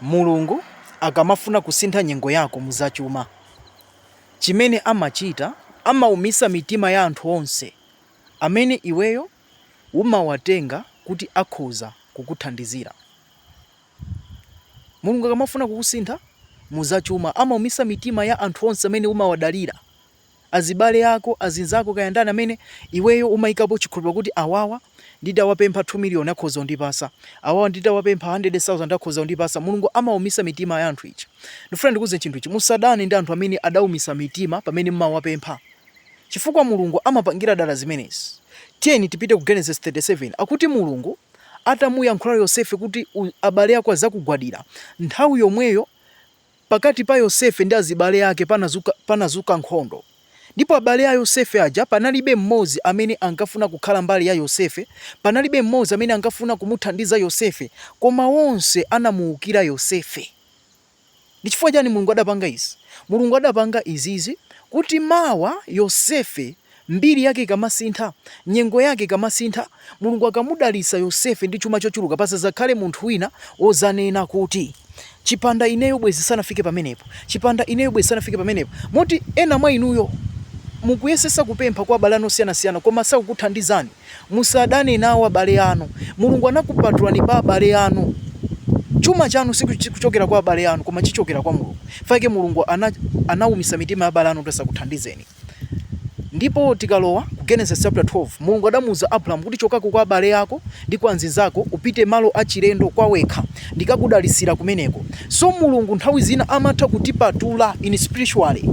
Mulungu akamafuna kusintha nyengo yako mu za chuma, chimene amachita amaumitsa mitima ya anthu onse amene iweyo umawatenga kuti akhoza kukuthandizira. Mulungu akamafuna kukusintha mu za chuma amaumitsa mitima ya anthu onse amene umawadalira azibale ako, azinzako kaya ndani amene iweyo umayikapo chikhulupiliro kuti awawa nditawapempha 2 million akhoza kundipasa, awawa nditawapempha 100,000 akhoza kundipasa, Mulungu amawumisa mitima ya anthu aja. Ndifuna ndikuwuzeni chinthu ichi musadane ndi anthu amene adawumisa mitima pamene mumawapempha chifukwa Mulungu amapangira dala zimenezi. Tiyeni tipite ku Genesis 37 akuti Mulungu atamuyankhula Yosefe kuti abale ako azakugwadira, nthawi yomweyo Pakati pa Yosefe ndi azibale ake panazuka nkhondo. Ndipo abale a Yosefe aja panalibe mmodzi amene ankafuna kukhala mbali ya Yosefe, panalibe mmodzi amene ankafuna kumuthandiza Yosefe, koma onse anamuwukira Yosefe. Ndi chifukwa chani Mulungu adapanga izi? Mulungu adapanga izizi kuti mawa Yosefe Mbiri yake ikamasintha, nyengo yake ikamasintha, Mulungu akamudalitsa Yosefe ndi chuma chochuluka, pasadzakhale munthu wina wodzanena kuti, Chipanda ineyo bwenzi sanafike pamenepo. Chipanda ineyo bwenzi sanafike pamenepo. Moti ena mwa inuyo mukuyesetsa kupempha kwa abale anu osiyanasiyana koma sakukuthandizani. Musadane nawo abale anu. Mulungu anakupatulani pa abale anu. Chuma chanu sichikuchokera kwa abale anu koma chichokera kwa Mulungu. Chifukwa chake Mulungu anaumitsa mitima ya abale anu kuti asakuthandizeni. Ndipo tikalowa ku Genesis chapter 12, Mulungu adamuuza Abrahamu kuti chokako kwa abale ako ndi kwa anzinzako upite malo achilendo kwa wekha, ndikakudalitsira kumeneko. So Mulungu nthawi zina amatha kutipatula in spiritually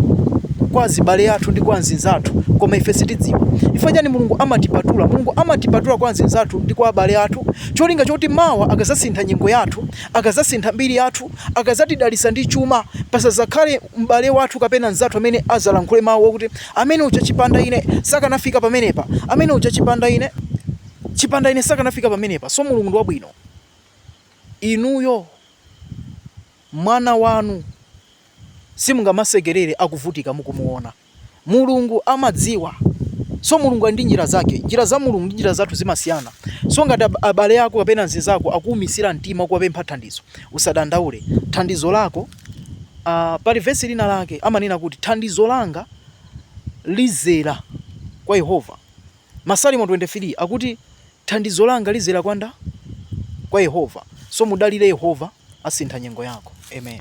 kwa azibale athu ndi kwa anzinzathu koma ife sitidziwa. Chifukwa chani Mulungu amatipatula? Mulungu amatipatula kwa anzinzathu ndi kwa abale athu cholinga choti mawa akazasintha nyengo yathu akadzasintha mbiri yathu, akadzatidalitsa ndi chuma, pasadzakhale m'bale wathu kapena mnzathu amene adzalankhule mawu akuti, amene uja chipanda ine sakanafika pamenepa, amene uja chipanda ine, chipanda ine sakanafika pamenepa. So Mulungu ndi wabwino. Inuyo mwana wanu simungamasekerere akuvutika mukumuona. Mulungu amadziwa. So Mulungu ali ndi njira zake. Njira za Mulungu ndi njira zathu zimasiyana. So ngati abale ako kapena nzinzako akuumisira mtima kuwapempha thandizo, usadandaule. Thandizo lako uh, pali vesi lina lake amanena kuti thandizo langa lizera kwa Yehova. Masalimo 23 akuti thandizo langa lizera kwa ndani kwa Yehova. So mudalire Yehova asintha nyengo yako. Amen.